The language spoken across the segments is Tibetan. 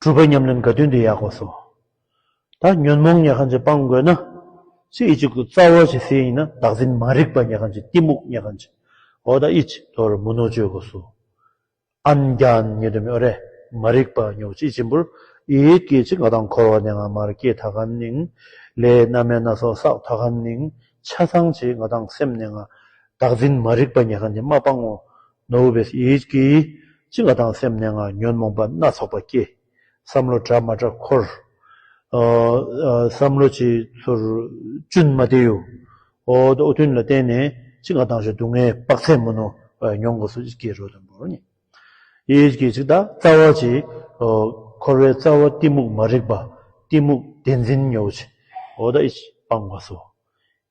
གྲུབ་པའི་ཉམས་ལེན་དགའ་སྟོན་འདི་ཡག་པོ་སོ། ད་ཉོན་མོངས་ཉལ་ཁང་ཅིག་སྤང་དགོས་ན། ཚེས་གཅིག་ཏུ་རྩ་བ་ཞིག་ཟིན་ཡིན་ན་བདག་འཛིན་མ་རིག་པ་ཉལ་ཁང་ཅིག་གཏི་མུག་ཉལ་ཁང་ཅིག་འོ་ད་ཨི་ཅི་དོར་མུ་ནོ་སྤྱོད་དགོས་སོ། ཨན་རྒྱན་ཉེ་དུ་མི་ཨོ་རེ་མ་རིག་པ་ཉོག་ཅིག་གཅིག་འབུར་ཨིད་ཀི་ཅིག་ང་དང་འཁོར་བ་ནས་ང་མར་སྐྱེས་ད་གམ་ནིང་ལས་སྣ་མའི་སྣ་ཚོགས་བསགས་ད་གམ་ནིང་ཆ་ཚང་ཅིག་ང་དང་སེམས་ནས་ང་བདག་འཛིན་མ་རིག་པ་ཉལ་ཁང་ཅིག་མ་སྤང་ངོ། ནོ་བྷེལ་བེས་ཡིད་ཀྱིས་ཅི་འགའ་དང་སེམས་ནད་ངང་ཉོན་མོངས་པ་སྣ་ཚོགས་པ་སྐྱེས། བསམ་བློ་དྲག་མ་དྲག་འཁོར། བསམ་བློ་ཅི་ཚོར་ཅུན་མ་བདེ་ཡོད། ཨོ་ཐུན་ལ་བརྟེན་ནས་ཅི་འགའ་དང་ཞོ་སྡུག་བསྔལ་དཔག་ཚད་མུ་ནོ་བས་མྱོང་དགོས་སུ་སྐྱེས་རོ་དང་པོར་ནི། ཡིད་ཀྱིས་ཅི་བདག་རྩ་བ་ཅི། འཁོར་བའི་རྩ་བ་གཏི་མུག་མ་རིག་པ་གཏི་མུག་བདེན་འཛིན་མྱོ་བྱེད། ཨོ་ད་ཨི། སྤངས་པ་སོ།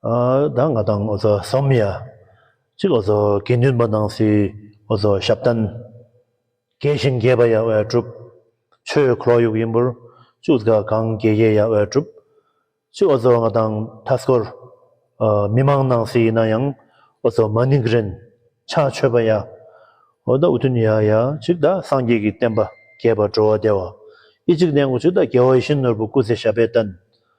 ད་ང་དང་ཨོ་རྩལ་བསམ་ཡས་གཅིག་ཨོ་རྩལ་དགེ་འདུན་པ་སྣང་སྲིད་ཨོ་རྩལ་ཞབས་བརྟན། དགེ་བཤེས་མཁས་པ་ཡ་བྷེ་གྲུབ། ཆོས་འཁོར་ཡུག་ཡིན་པོར་བཅུག་གཟི་ཁ་གངས་དགེ་རྒྱལ་ཡ་བྷེ་གྲུབ། གཅིག་ཨོ་རྩལ་ང་དང་དྷ་སྐོར། མི་མང་སྣང་སྲིད་ཡིན་ན་ཡང་ཨོ་རྩལ་མ་ནིག་རིན་ཆ་ཆོས་པ་ཡ་ཨོ་ད་འུ་ཐུན་ཡ་ཡ་གཅིག་ད་སངས་རྒྱས་ཀྱི་བསྟན་པ་རྒྱས་པར་འགྲོ་བ་བདེ་བ་ཨི་གཅིག་ནས་འུ་གཅིག་ད་རྒྱལ་བ་ཡེ་ཤེས་ནོར་བུ་སྐུ་ཚེ་ཞབས་པད་བརྟན།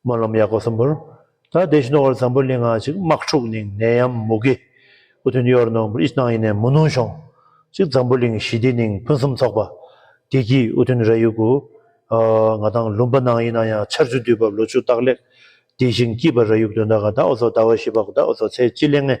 སྨོན་ལམ་ཡག་པོ་གསུམ་པོར། ད་བདེ་ཞིང་རྣོ་བར་ཛམ་བུ་ལི་ང་གཅིག་དམག་འཁྲུག་ནིང་ནད་ཡམས་མུ་གེ། སྐུ་མཐུན་གཡོར་ནོར་འབུར་ཨིས་ནང་ཡིན་ནས་མུ་ནུང་ཤོང། གཅིག་ཛམ་བུ་གླིང་ཞི་བདེ་ནིང་ཕུན་སུམ་ཚོགས་པ། བདེ་སྐྱིད་དབུ་མཐུན་ར་ཡུ་གུ། ང་དང་ལུམ་པ་ནང་ཡིན་ན་ཡང་ཆར་ཆུ་དུས་བབ་ལོ་ཆུ་རྟགས་ལེགས། བདེ་ཞིང་སྐྱིད་པ་ར་ཡུག་དོན་དགའ་དགའ་འོ་ཚོ་ཟླ་བ་བཞི་པ་དགའ་དགའ་འོ་ཚོ་ཚེ་སྐྱིད་ལེགས་ངེས།